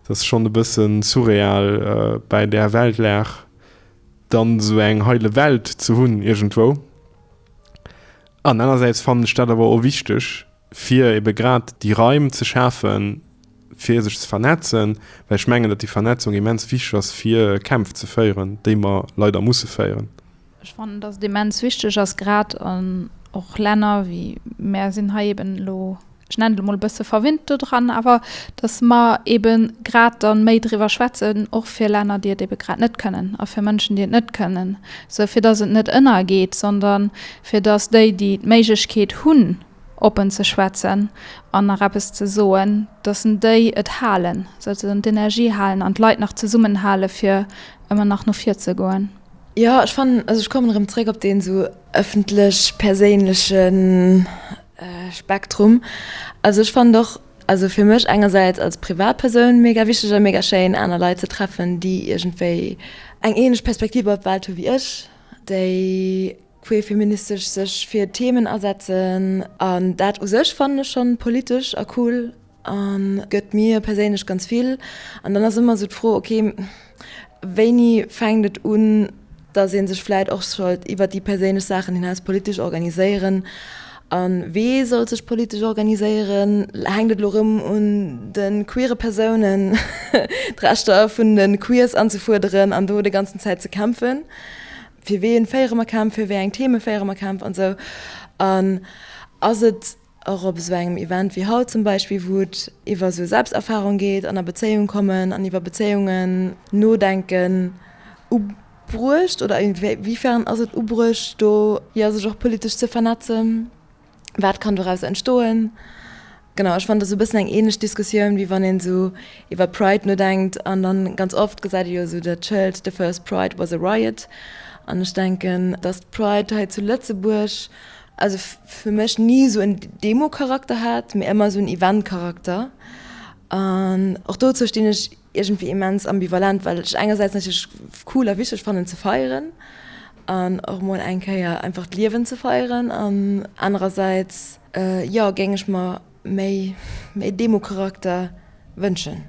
et ass schonn e bësse surreal bäi där Weltlag dann esou eng heile Welt ze hunn iergendwou. Anerersäits fannen ech dat awer och wichteg, fir ebe grad déi Raim ze schafen, fir sech ze vernetzen, well ech mengen, datt déi Vernetzung immens wichteg ass, fir Kämpf ze féieren, déi mer leider musse féieren. Ech fannen, datt et immens wichteg ass, grad an och Länner wéi mär sinn hei eben elo, ech nennen et emol, e bësse verwinnt dodran, awer datt mer ebe grad dann méi driwwer schwätzen, och fir Länner, déi et ebe grad net kënnen, a fir Mënschen, déi et net kënnen, sou fir datt et net ënnergeet, sondern fir datt déi, déi d'Méiglechkeet hunn, oppen ze schwätzen an nach eppes ze soen, dass en déi et halen, souzesoen d'Energie halen an d'Leit nach zesummenhale fir ëmmer nach no vir ze goen. Jo, ech fannen, also ech kommen erëm zréck op deen esou ëffentlech perséinleche Spektrum. Also ech fannen och, also fir mech engersäits als Privatpersoun mega wichteg a mega schéin aner Leit ze treffen, déi iergendwéi eng ähnlech Perspektiv op d'Welt hu wéi ech, déi, queer feministesch sech fir Themen asetzen an dat u sech fannen ech schon politesch a cool an gëtt mir perséinlech ganz vill an dann ass ëmmer sou d'Fro ok wéini fänkt et un dass een sech vläit och sollt iwwert déi perséinlech Saachen hinaus politesch organiséieren an wee sollt sech politesch organiséieren hänkt et lo rëm un de queere Persounen d'Rechter vun de Queers anzefuerderen an do de ganzen Zäit ze kämpfen. fir wien féiere mer Kämpf, fir wéi eng Theme féiere mer Kämpf an esou an ass et och op esou engem Event wéi haut zum Beispill, wou et iwwer esou Selbsterfarung geet an a Bezéiung kommen an iwwer Bezéiungen nodenken, ubruecht oder wéifern ass et ubruecht do jo sech och politesch ze vernetzen? Wat kann doraus entstoen? Genau, ech fannen, dat ass e bëssen eng ähnlech Diskussioun, wéi wann een esou iwwer Pride nodenkt. An dann, ganz oft gesäit ee jo esou dat Schëld, The first Pride was a riot. An ech denken, dass d'Pride hei zu Lëtzebuerg, also fir mech ni esou en Demo-Charakter hat, mä ëmmer esou en Event-Charakter. An och dozou stinn ech. Iergendwéi immens ambivalent, well ech engersäits natierlech cool a wichteg fannen ze feieren an och mol eng Kéier einfach d'Liewen ze feieren an anerersäits, jo, géing ech mer méi, méi Democharakter wënschen.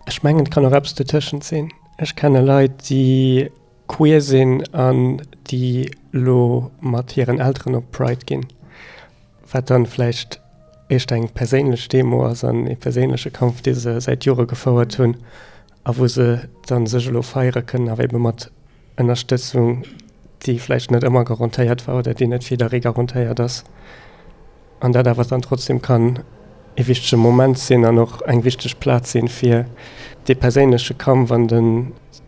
Ech mengen et kann och eppes dotëschent sinn. Ech kenne Leit déi. queer sinn an déi elo mat hiren Elteren op Pride ginn, wat dann vläicht éischter eng perséinlech Demo ass an ee perséinleche Kampf, dee se säit Jore gefouert hunn a wou se dann sech elo feiere kënnen, awer ebe mat Ënnerstëtzung, déi vläicht net ëmmer garantéiert war oder déi net fir jidderee garantéiert ass. An dat awer dann trotzdem kann ee wichtege Moment sinn an och eng wichteg Plaz sinn, fir dee perséinleche Kampf an de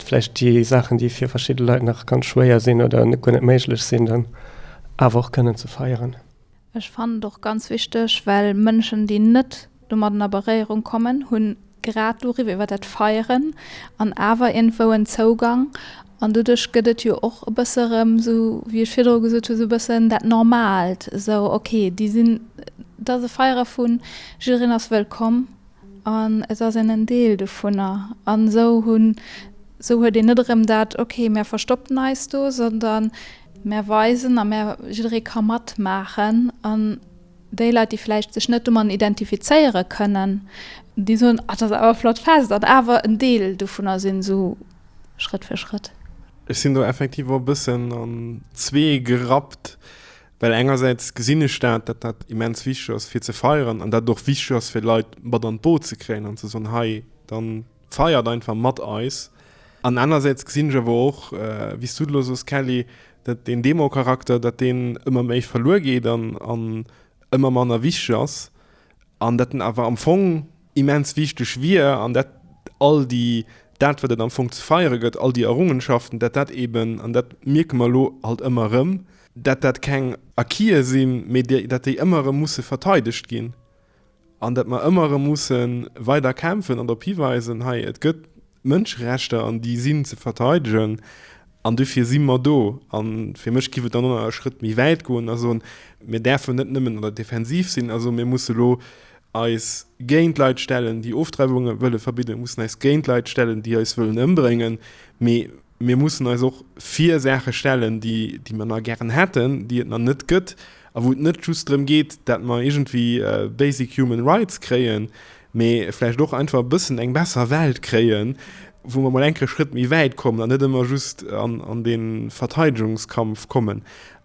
vläicht déi Saachen, déi fir verschidde Leit nach ganz schwéier sinn oder net guer net méiglech sinn, dann awer och kënnen ze feieren. Ech fannen et och ganz wichteg, well Mënschen, déi net domatten a Beréierung kommen hunn, grad doriwwer iwwer dat Feieren an awer iergendwou en Zougang an doduerch gëtt et jo och e bësse erëm esou, wéi ech virdru gesot hunn, esou e bëssen dat Normalt, esou ok, déi sinn, et ass e Feiere vu jiddereen ass wëllkomm an et ass een en Deel dovunner an esou hunn, esou huet een net erëm dat ok, mär verstoppen eis do, sondern mär weisen a mär, jidderee ka matmaachen an. Déi Leit, déi vläicht sech net domadden identifizéiere kënnen, déi soen, ah, dat ass awer e flott Fest, an awer en Deel dovunner sinn, esou Schrëtt fir Schrëtt. Ech sinn do effektiv och e bëssen an zwee gerappt, well engersäits gesinn ech dat, datt dat immens wichteg ass fir ze feieren an dat et och wichteg ass fir d'Leit mat an d'Boot ze kréien an ze soen, hei dann, Feiert einfach mat eis! An anersäits gesinn ech awer och, wéi s du et elo soos, Kelly, dat deen Demo-Charakter, dat deen ëmmer méi verluer geet an ëmmer manner wichteg ass, an dat en awer am Fong immens wichteg wier, an dat all déi, dat wat et am Fong ze feiere gëtt, all déi Errungenschaften, dat dat eben, an dat mierke mer elo halt ëmmer erëm, dat dat keng Acquise sinn, mee dat déi ëmmer erëm musse verteidegt ginn. An datt mer ëmmer erëm musse weider kämpfen an drop hiweisen, hei, et gëtt Mënscherechter an déi sinn ze verteidegen an dofir si mer do. A fir mech géif et dann och nach e Schrëtt méi wäit goen a soen, mir däerfen net nëmmen an der Defensiv sinn a soen, mir musse lo eis géint Leit stellen, déi Ofdreiwunge wëlle verbidden, mir mussen eis géint Leit stellen, déi eis wëllen ëmbréngen, mee Mir mussen eis och vir Saache stellen, déi, déi mer nach gären hätten, déi et nach net gëtt a wou et net just drëm geet, dat mer iergendwéi basic human rights kréien, mee vläicht och einfach e bëssen eng besser Welt kréien, wou mer mol enke Schrëtt méi wäit kommen an net ëmmer just an dee Verteidegungskampf kommen.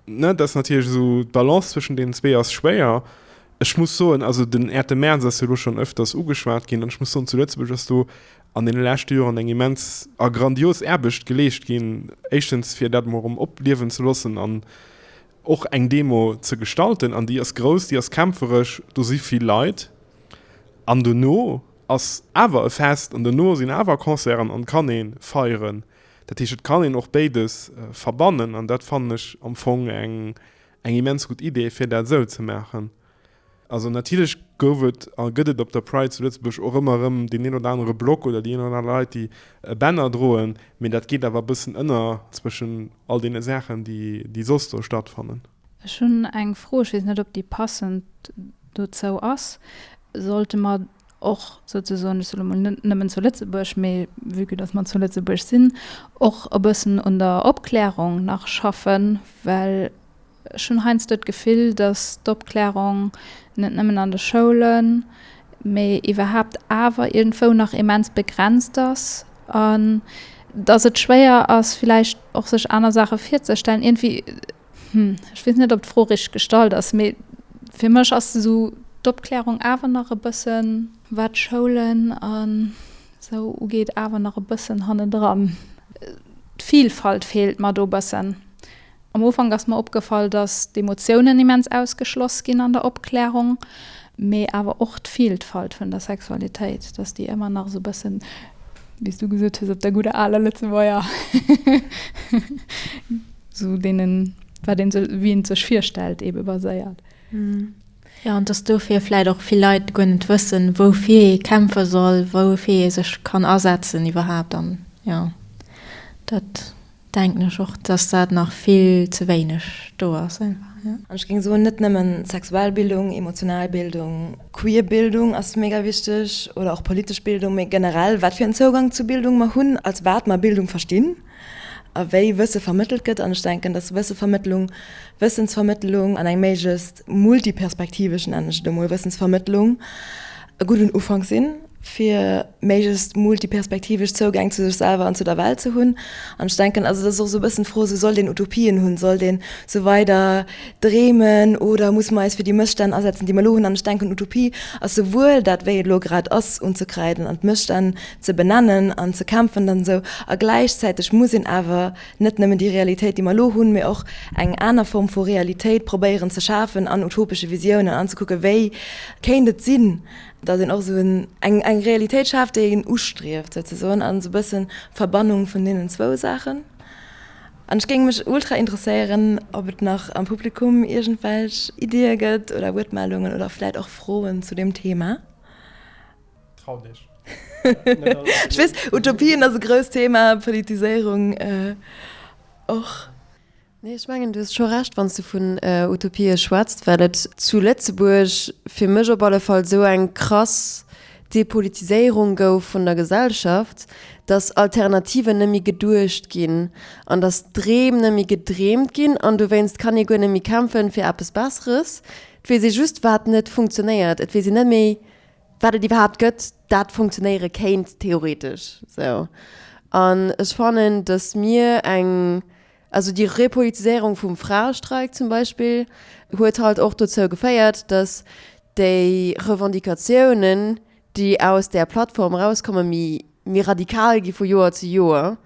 Dat ass natierlech esou, d'Balance zwëschen deenen zwee ass schwéier. Ech muss soen, also den Äerte Merz ass jo elo schonn ëfters ugeschwat ginn an ech muss soen, zu Lëtzebuerg ass do an deene leschte Joren eng immens a grandios Aarbecht geleescht ginn, éischtens fir dat emol erëm opliewen ze loossen an och eng Demo ze gestalten an déi ass grouss, déi ass kämpferesch, do si vill Leit an dono ass awer e Fest an dono sinn awer Concerten an et kann ee feieren. Dat heescht, et kann een och béides verbannen an dat fannen ech am Fong eng immens gutt Idee fir dat esou ze maachen. Also natierlech gouf et a gëtt et op der Pride zu Lëtzebuerg och ëmmer erëm deen een oder anere Block oder déi een oder aner Leit, déi e Banner droen, mee dat geet awer e bëssen ënner zwëschen all deene Saachen, déi soss do stattfannen. Ech hunn eng Fro, ech weess net, ob déi passend dozou ass. Sollte mer och souzesoen, ech soe mol net nëmmen zu Lëtzebuerg, mee vue que datt mer zu Lëtzebuerg sinn, och e bëssen un der Opklärung nach schaffen, well Ech hunn heiansdo d'Gefill, datt d'Opklärung net nëmmen an de Schoulen, mee iwwerhaapt awer iergendwou nach immens begrenzt ass an datt et schwéier ass villäicht och sech aner Saache virzestellen. Iergendwéi, hm, ech weess net, ob d'Fro richteg gestallt ass, mee fir mech ass esou d'Opklärung awer nach e bëssen, wat d'Schoulen a sou ugeet, awer nach e bëssen hannendran. D'Vilfalt feelt mer do bëssen. Am Ufank ass mer opgefall, dass d'Emotiounen immens ausgeschloss ginn an der Opklärung, mee awer och d'Vieltfalt vun der Sexualitéit, dass déi ëmmer nach esou bëssen, wéi s du gesot hues, op der gudder aler Lëtzebuerger, esou deenen, wat ee sech, wéi ee sech virstellt, eebe baséiert. Jo, an dass dofir vläicht och vill Leit guer net wëssen, woufir ee kämpfe soll, woufir ee sech kann asetzen iwwerhaapt an, jo, dat. Denken ech och dass dat nach vill ze wéineg do ass einfach jo. An ech géing soen net nëmmen sexuell Bildung, emotional Bildung, queer Bildung ass mega wichteg oder och politesch Bildung, mee generell wat fir en Zougang zu Bildung mer hunn, als wat mer Bildung verstinn a wéi Wësse vermëttelt gëtt. An ech denken dass Wëssevermëttlung, Wëssensvermëttlung an eng méiglechst multiperspektivesch, nennen ech et emol, Wëssensvermëttlung e gudden Ufank sinn fir, méiglechst multiperspektivesch Zougäng zu sech selwer an zu der Welt ze hunn. An ech denken, also dat ass och esou e bëssen d'Fro, esou sollt een Utopien hunn, sollt een esou weider dreemen oder muss mer eis fir déi Mësstänn asetzen, déi mer elo hunn? An ech denken, Utopie ass souwuel dat, wéi et elo grad ass, unzekreiden an d'Mësstänn ze benennen an ze kämpfen an esou, a gläichzäiteg muss een awer net nëmmen déi Realitéit, déi mer elo hunn, mee och eng aner Form vu Realitéit probéieren ze schafen an utopesche Visiounen an ze kucken, wéi kéint et sinn, Datt een och esou eng eng Realitéit schaaft, déi een ustrieft souzesoen, an esou e bëssen Verbannung vun deenen zwou Saachen. An ech géing mech ultra interesséieren, ob et nach am Publikum iergendwelch Iddie gëtt oder Wuertmeldungen oder vläit och Froen zu deem Thema. Trau dech! Ech weess, Utopien ass e grousst Thema, Politiséierung och. Nee, ech mengen, du hues scho Recht, wann s du vun Utopie schwätzt, well et zu Lëtzebuerg, fir mech op alle Fall, esou eng krass Depolitiséierung gouf vun der Gesellschaft, dass Alternativen net méi geduecht ginn an dass Dreem net méi gedreemt ginn. An dowéinst kann ee guer net méi kämpfen fir eppes Besseres. Et weess ee just, wat net funktionéiert. Et weess een net méi, wat et iwwerhaapt gëtt, dat funktionéiere kéint, theoretesch esou. An ech fannen, dass mir eng Also déi Repolitiséierung vum Fraestreik zum Beispill huet halt och dozou geféiert, datt déi Revendicatiounen, déi aus där Plattform erauskommen, méi méi radikal gi vu Joer zu Joer,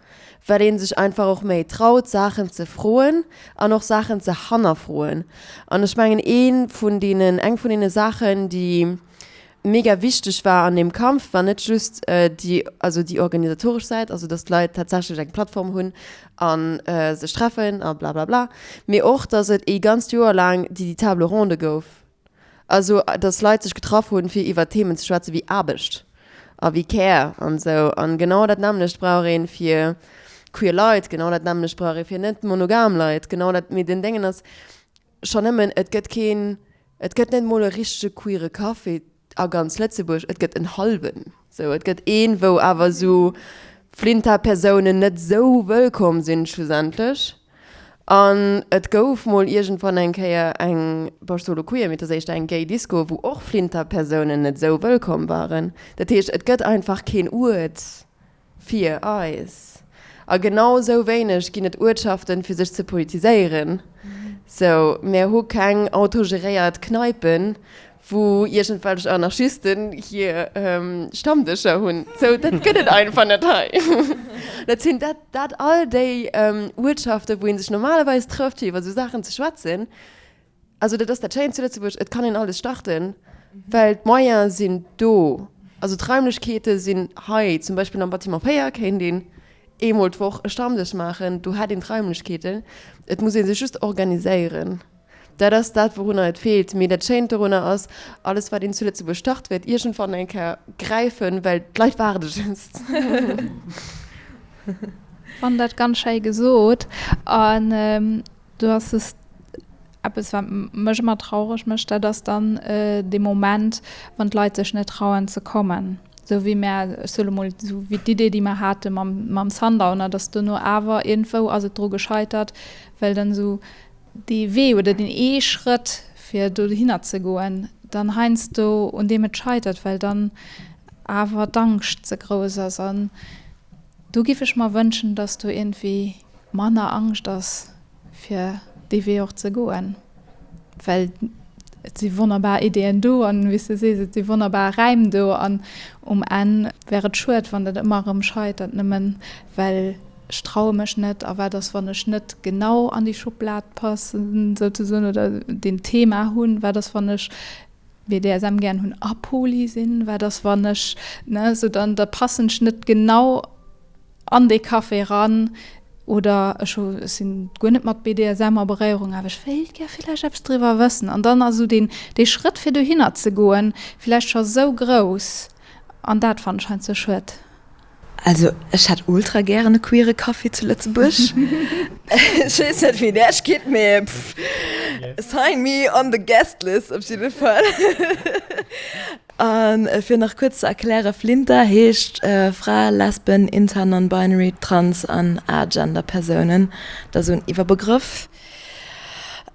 well ee sech einfach och méi traut, Saachen ze froen an och Saachen ze hannerfroen. An ech mengen, ee vun deenen, eng vun deene Saachen, déi. Mega wichteg war an deem Kampf war net just déi, also déi organisatoresch Säit, also datt d'Leit tatsächlech eng Plattform hunn a sech treffen a blablabla, mee och datt et ee ganzt Joer laang déi déi Table ronde gouf, also datt Leit sech getraff hunn, fir iwwer Themen ze schwätzen, wéi Aarbecht a wéi Care an esou. An genau dat nämmlecht brauch een fir queer Leit, genau dat nämmlecht brauch ee fir net monogam Leit, genau dat. Mee den Déngen ass schonn nëmmen, et gëtt keen Et gëtt net mol e richtege queere Café a ganz Lëtzebuerg, et gëtt en hallwen. Sou, et gëtt een, wou awer sou Flinta-Persounen net sou wëllkomm sinn, schlussendlech. An et gouf mol iergendwann eng Kéier eng, bon, ech soe lo queer, mee et ass éischter eng gay Disco, wou och Flinta-Persounen net sou wëllkomm waren. Dat heescht, et gëtt einfach keen Uert, Fir eis. A genau esou wéineg ginn et Uertschaften, fir sech ze politiséieren. Sou, mär hu keng autogeréiert Kneipen, wou iergendwelch Anarchisten hir Stammdëscher hunn. Sou, dat gëtt et einfach net hei. Dat sinn dat, dat all déi Uertschaften, wou ee sech normalerweis trëfft, fir iwwer esou Saachen ze schwätzen. Also dat ass dat Schéint zu Lëtzebuerg, et kann een alles starten, well d'Moyens sinn do. Also d'Raimlechkeete sinn hei. Zum Beispill am Bâtiment 4 kéint een eemol d'Woch e Stammdësch maachen, do hätt een d'Raimlechkeeten. Et muss ee sech just organiséieren. Dat ass dat, wourunner et feelt. Mee dat Schéint dorunner ass, alles wat een zu Lëtzebuerg start, wäert iergendwann eng Kéier gräifen, well d'Leit waarde just. Fannen dat ganz schéi gesot. Do ass just eppes, wat mech ëmmer traureg mécht, dat ass dann dee Moment, wann d'Leit sech net trauen ze kommen. Esou wéi mär, ech soe lo mol, esou wéi d'Idee, déi mär hate mam, mam Sundowner, dass duerno awer iergendwou ass et dru gescheitert, well dann esou dee Wee oder deen ee Schrëtt, fir dohinner ze goen, dann heiansdo un deem et scheitert, well dann awer d'Angscht ze grouss ass. An do géif ech mer wënschen, dass do iergendwéi. manner Angscht ass fir dee Wee och ze goen, well et si wonnerbar Ideeën do an wéi s de sees, et si wonnerbar Räim do an um Enn wär et schued, wann dat ëmmer erëm scheitert, nëmmen well ech traue mech net a wat ass, wann ech net genau an déi Schublad passen, souzesoen, oder deen Thema hunn, wat ass, wann ech BDSM gären hunn a Poly sinn, wat ass, wann ech, ne, esou dann da passen ech net genau. an dee Café ran oder ech hu sinn guer net mat BDSM a Beréierung awer ech wéilt gär villäicht eppes driwwer wëssen an dann ass esou deen dee Schrëtt fir dohinner ze goen villäicht scho esou grouss an dat fannen ech heiansdo sou schued. Also ech hätt ultra gären e queere Café zu Lëtzebuerg. Ech weess net wéi där steet mee pff sign me on the guest list op jidde Fall. A fir nach kuerz ze erklären, Flinter heescht Frae, Lesben, Inter, Non-Binary, Trans an Agender Persounen. Dat ass esou en Iwwerbegrëff.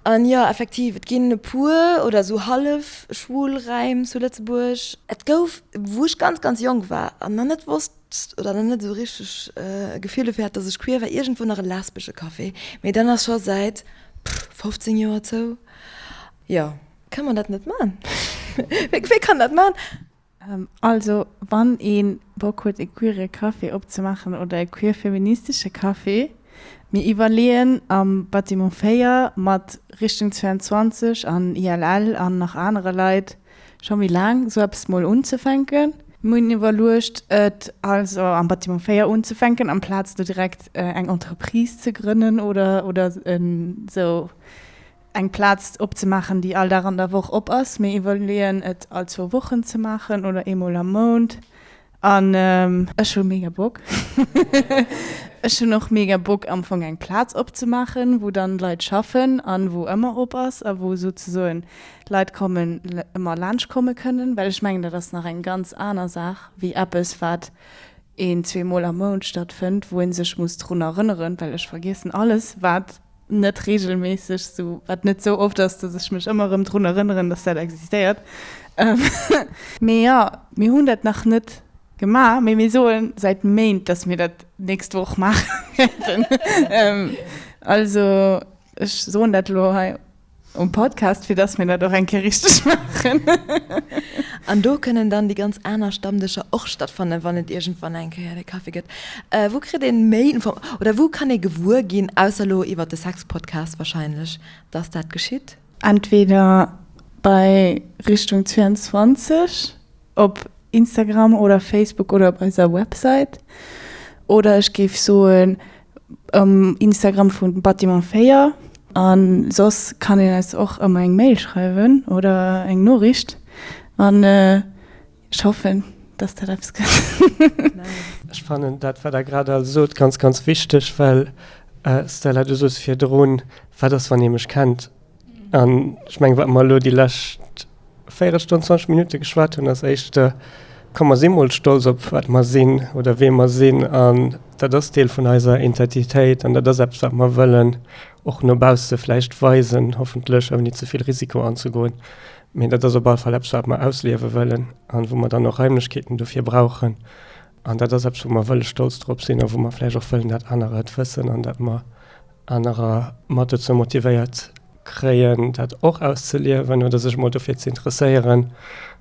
An jo, effektiv, et ginn e puer oder esou hallef schwul Räim zu Lëtzebuerg. Et gouf, wou ech ganz, ganz jonk war an nach net wosst oder nach net esou richteg e Gefill dofir hat, dass ech queer war, iergendwou nach e lesbesche Café, mee dann ass scho säit 15 Joer zou. Jo. Kann man dat net man? Wé kann dat man? Ähm, also wann een Bock huet e queere Café opzemaachen oder e queer feministesche Café, mir iwwerleeën am Bâtiment 4 mat Richtung 22 an ILL an nach anere Leit scho méi laang esou eppes mol unzefänken. Mir hunn iwwerluecht et also am Bâtiment 4 unzefänken amplaz do direkt eng Entreprise ze grënnen oder oder esou eng Plaz opzemaachen, déi all Dag an der Woch op ass. Mir iwwerleeën et all zwou Wochen ze maachen oder eemol am Mount. An ech hu mega Bock. Ech hunn och mega Bock am Fong eng Plaz opzemaachen, wou dann d'Leit schaffen an wou ëmmer op ass a wou souzesoen Leit kommen, ëmmer laanscht komme kënnen. Well ech mengen, dat ass nach eng ganz aner Saach wéi eppes, wat een zweemol am Mount stattfënnt, wou ee sech muss drun erënneren, well ech vergiessen alles, wat net regelméisseg, sou wat net sou oft ass, dass ech mech ëmmer erëm drun erënneren, dass dat existéiert. Mee jo, mir hunn dat nach net gemaach, mee mir soen säit Méint, dass mir dat d'nächst Woch maache wäerten. Also ech soen dat elo hei. Um Podcast, fir dass mir dat och eng Kéier richteg maachen. An do kënnen dann déi ganz aner Stammdëscher och stattfannen, wann et iergendwann eng Kéier de Kaffi gëtt. Wou kritt ee méi Inform-, oder wou kann ee gewuer ginn, ausser elo iwwer de Sex-Podcast wahrscheinlech, dass dat geschitt? Entweder bei Richtung 22, Op Instagram oder Facebook oder op eiser Website. Oder ech géif soen um Instagram vum Bâtiment 4. A soss kann een eis och ëmmer eng Mail schreiwen oder eng Noriicht. An ech hoffen, dass dat eppes gëtt. Ech fannen dat, wat Der grad all sot, ganz, ganz wichteg, well, Stella, du sos virdrun, Wat ass, wann ee mech kennt? An ech menge wat mer elo déi lescht Véierelstonn, 20 Minutte geschwat hunn, ass éischt de komm mer si mol stolz op wat mer sinn oder wee mer sinn. An dat ass Deel vun eiser Intentitéit an dat ass eppes wat mer wëllen och no bausse vläicht weisen, hoffentlech ouni ze vill Risiko anzegoen. Mee dat ass op all Fall eppes wat mer ausliewe wëllen an wou mer dann och Raimlechkeeten dofir brauchen. An dat ass eppes wou mer wëlle stolz drop sinn a wou mer vläicht och wëllen dat anerer et wëssen an dat mer, anerer mat dozou motivéiert kréien, dat och auszeliewen oder sech emol dofir ze interesséieren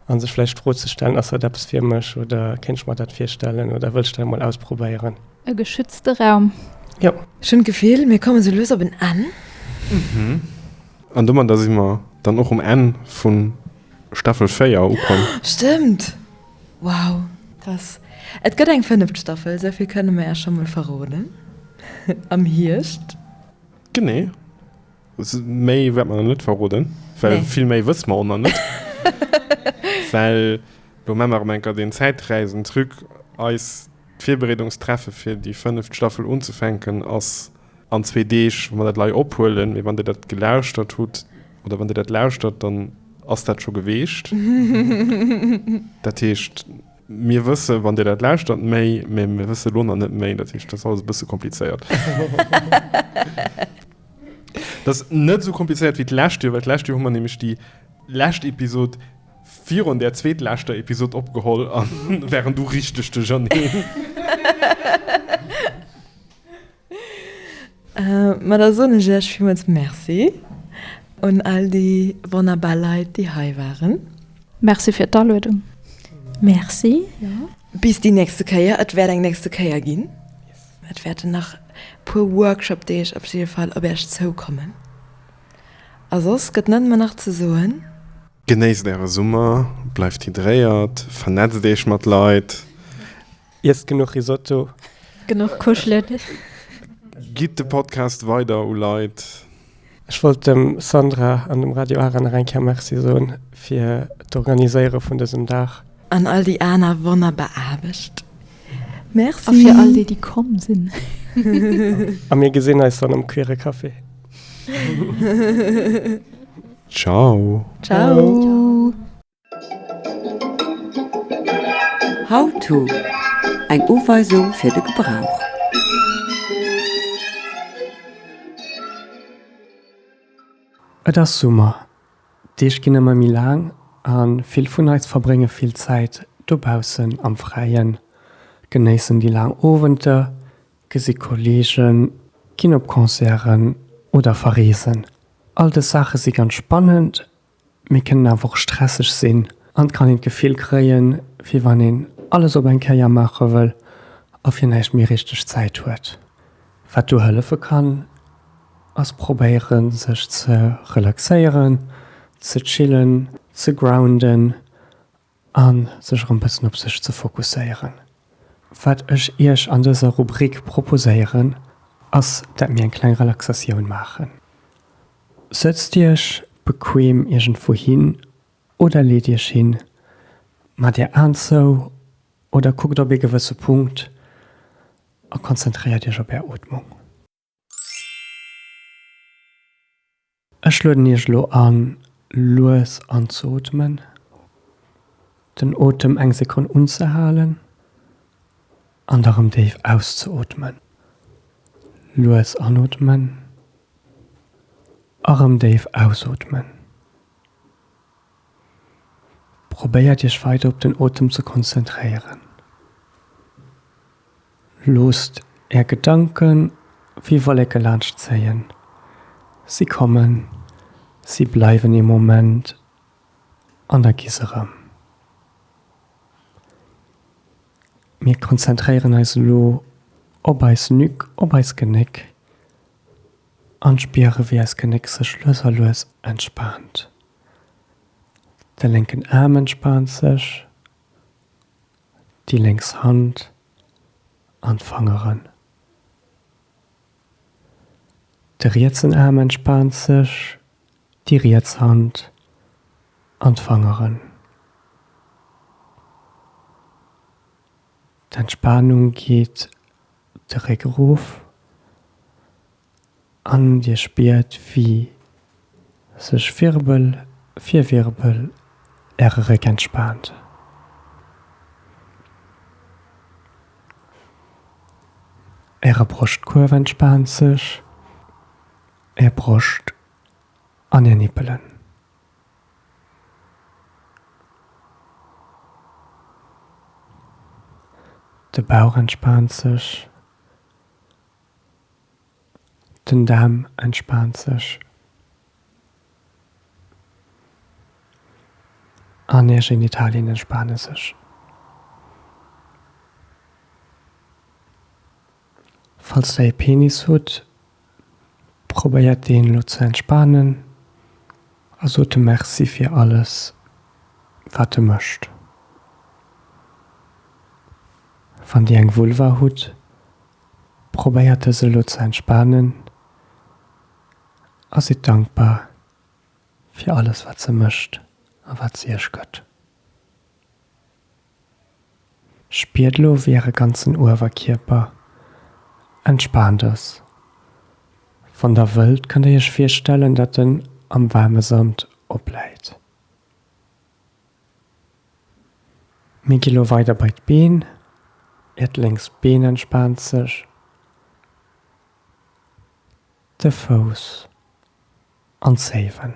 a sech vläicht d'Fro ze stellen, Ass dat eppes fir mech oder kéint ech mer dat virstellen oder wëll ech dat emol ausprobéieren? E geschützte Raum. Jo. Ech hunn d'Gefill, mir komme sou lues op en Enn. An domadder si mer dann och um Enn vu Staffel 4 ukomm. Stëmmt! Wow! Krass! Et gëtt eng fënneft Staffel, esou vill kënne mer är scho mol verroden, am Hierscht. Genee. Méi wäerte mer nach net verroden, well vill méi wësse mer och nach net. Well elo mat mer erëm eng Kéier den Zäitreisen-Truc eis. D'Virbereedungstreffe fir déi fënneft Staffel unzefänken ass an zwee Deeg. Wa mer dat lei ophuelen, mee wann Dir dat gelauschtert hutt oder wann Dir dat lauschtert, dann ass dat scho geweecht. Dat heescht, mir wësse wann Dir dat lauschtert méi, mee mir wësse elo nach net méi. Dat heescht, dat ass alles e bësse komplizéiert. Dat ass net esou komplizéiert wéi d'lescht Joer, well d'lescht Joer hu mer nämlech déi lescht Episod, Virun der zweetleschter Episode opgeholl an waren du richteg de Janee. Ma da soen ech iech villmools Merci un all déi wonnerbar Leit, déi hei waren. Merci fir d'Aluedung. Merci, jo. Bis déi nächste Kéier. Et wäert eng nächste Kéier ginn. Et wäerten nach e puer Workshop-Deeg op jidde Fall op iech zoukommen. A soss gëtt net méi nach ze soen. Genéisst äre Summer, bleift hydréiert, vernetzt iech mat Leit. Iesst genuch Risotto. Genuch kuschelen. Gitt de Podcast weider u Leit. Ech wollt dem Sandra an dem Radio Ara nach eng Kéier Merci soen fir d'Organiséiere vun dësem Dag. An all déi aner wonnerbar Aarbecht. Merci. A fir all déi, déi komm sinn. A mir gesinn eis dann um Queere Café. Ciao. Ciao. How-to, Eng Uweisung fir de Gebrauch. Et ass Summer. D'Deeg ginn ëmmer méi laang a vill vun eis verbrénge vill Zäit dobaussen am Fräien, genéissen déi laang Owenter, gesi Kolleegen, ginn op Concerten oder verreesen. All dës Saache si ganz spannend, mee kënnen awer och stresseg sinn an et kann een d'Gefill kréien, wéi wann een alles op eng Kéier maache wëll a fir näischt méi richteg Zäit huet. Wat do hëllefe kann, ass probéieren, sech ze relaxéieren, ze chillen, ze grounden a sech erëm e bëssen op sech ze fokusséieren. Wat ech Iech an dëser Rubrik proposéieren, ass, dat mir eng kleng Relaxatioun maachen. Sëtzt Iech bequem iergendwou hin oder leet Iech hin, maacht Är Aen zou oder kuckt op ee gewësse Punkt A konzentréiert Iech op Är Ootmung. Ech lueden Iech elo an, lues anzeootmen, den Otem eng Sekonn unzehalen an da rëm déif auszeootmen. Lues anootmen a rëm déif ausootmen. Probéiert Iech weider op den Otem ze konzentréieren. Loosst Är Gedanke wéi Wolleke laanscht zéien. Si kommen, si bleiwen ee Moment an da gi se erëm. Mir konzentréieren eis elo op eis Nuque, op eis Genéck, An spiere wéi eis Genéck sech lues a lues entspaant. De lénken Aarm entspaant sech, déi lénks Hand an d'Fangeren. De rietsen Aarm entspaant sech, déi riets Hand an d'Fangeren. D'Entspaanung geet zeréck erof an Dir spiert wéi sech Wirbel fir Wirbel Äre Réck entspaant. Äre Broschtkuerf entspaant sech, Är Broscht an Är Nippelen. De Bauch entspaant sech. Den Daarm entspaant sech. An är Genitalien entspaane sech. Falls der ee Penis hutt, Probéiert een elo ze entspanen a sot dem Merci fir alles wat e mécht. Wann dir eng Vulva hutt, probéiert dës elo ze entspanen a sidd dankbar fir alles wat se mécht a wat se iech gëtt. Spiert elo wéi äre ganzen Uewerkierper entspaant ass. Wann der wëllt kënnt der iech virstellen dat en am waarme Sand opläit. Mir gi lo weider bei d'Been, äert lénks Been entspaant sech, de Fouss. An saven.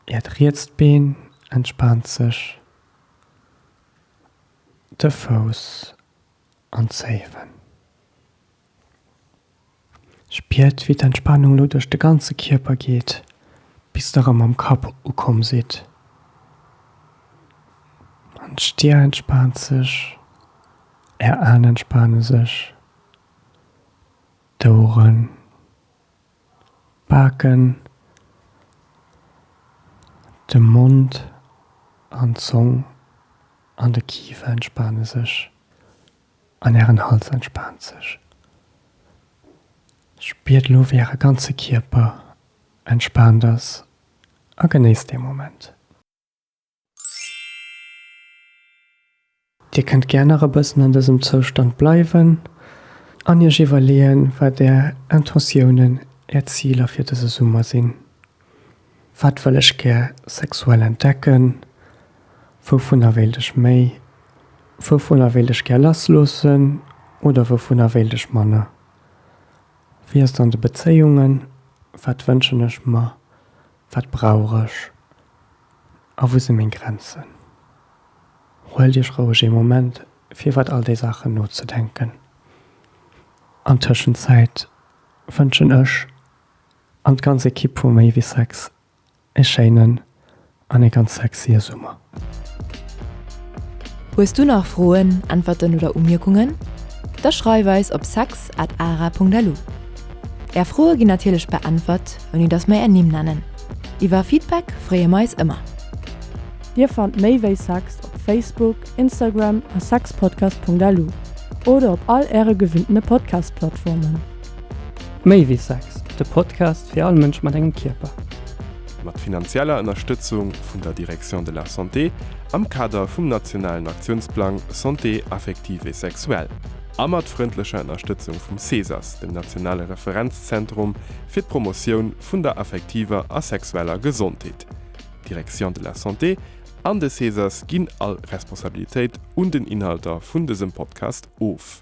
Äert rietst Been entspaant sech, de Fouss an saven. Spiert wéi d'Entspanung lo duerch de ganze Kierper geet, bis der erëm am Kapp ukomm sidd. An d'Stir entspaant sech, Är Aen entspane sech, d'Oueren. D'Baken, de Mond an d'Zong an de Kifer entspane sech an ären Hals entspaant sech. Spiert elo wéi äre ganze Kierper entspaant ass a genéisst dee Moment. Dir kënnt gär nach e bëssen an dësem Zoustand bleiwen an Iech iwwerleeën, wat Är Intentiounen, Är Ziler fir dëse Summer sinn. Wat wëll ech gär sexuell entdecken? Wouvunner wéilt ech méi? Wouvunner wéilt ech gär lassloossen oder wouvunner wéilt ech manner? Wéi ass et an de Bezéiungen? Wat wënschen ech mer? Wat brauch ech a wou si meng Grenzen? Huelt iech roueg ee Moment fir iwwert all déi Saachen nozedenken. An Tëschenzäit wënschen ech an d'ganz Ekipp vu Méi wéi Sex ee schéinen an ee ganz sexie Summer. Hues du nach Froen, Äntwerten oder Umierkungen? Da schreif eis op sex at ara.lu. Är Froe ginn natierlech beäntwert, ouni dass mer är Nimm nennen. Iwwer Feedback freeë mer eis ëmmer. Dir fannt méi wéi sex op Facebook, Instagram a sexpodcast.lu oder op all äre gewinnte Podcast-Plattformen. Méi wéi sex, de Podcast fir all Mënsch mat engem Kierper. mat finanzieller Ënnerstëtzung vun der Direction de la Santé am Kader vum nationalen Aktiounsplang Santé affective et sexuelle a mat frëndlecher Ënnerstëtzung vum CESAS, dem nationale Referenzzentrum fir d'Promotioun vun der affektiver a sexueller Gesondheet. D'Direction de la Santé an de CESAS ginn all Responsabilitéit un den Inhalter vun dësem Podcast of.